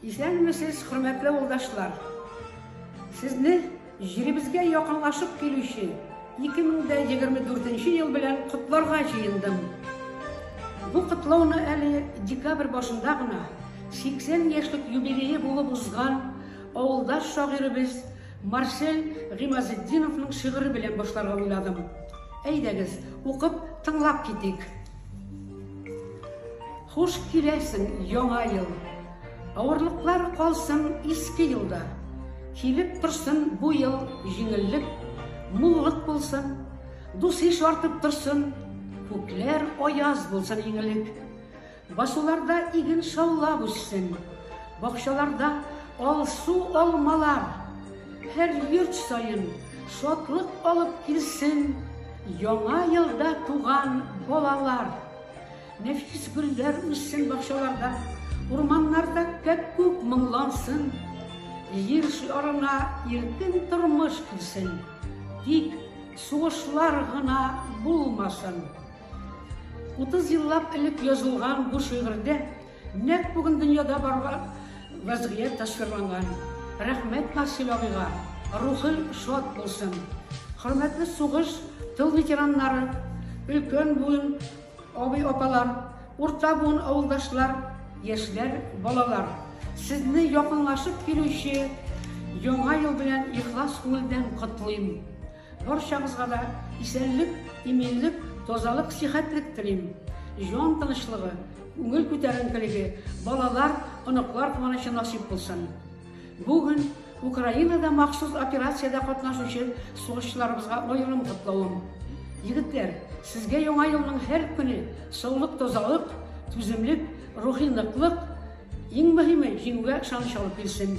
Исәнмесез, хөрмәтле авылдашлар! Сезне җиребезгә якынлашып килүче 2024 ел белән котларга җыендым. Бу котлауны әле декабрь башында гына 80 яшьлек юбилее булып узган авылдаш шагыйребез Марсель Гыймазетдиновның шигыре белән башларга уйладым. Әйдәгез, укып, тыңлап китик. Хуш киләсең, яңа ел! Авырлыклар калсын иске елда. Килеп торсын бу ел җиңеллек, муллык булсын. Дус-иш артып торсын, күкләр аяз булсын иңелек. Басуларда иген шаулап үссен, бакчаларда алсу алмалар. Һәр йорт саен шатлык алып килсен яңа елда туган балалар. Нәфис гөлләр үссен бакчаларда, урманнарда кәп-күк моңлансын. Җир шарына иркен тормыш килсен, тик сугышлар гына булмасын. 30 еллап элек язылган бу шигырьдә Нәкъ бүген дөньяда барган вазгыять тасвирланган. Рәхмәт Марсель абыйга, рухы шат булсын. Хөрмәтле сугыш, тыл ветераннары, өлкән буын абый-апалар, урта буын авылдашлар, яшьләр, балалар. Сезне якынлашып килүче Яңа ел белән ихлас күңелдән котлыйм. Барчагызга да исәнлек, иминлек, тазалык, сихәтлек телим. Җан тынычлыгы, күңел күтәренкелеге, балалар, оныклар куанычы насип булсын. Бүген Украинада махсус операциядә катнашучы сугышчыларыбызга аерым котлавым. Егетләр, сезгә яңа елның һәр көне саулык, тазалык, түземлек, рухи ныклык, иң мөһиме, җиңүгә ышаныч алып килсен.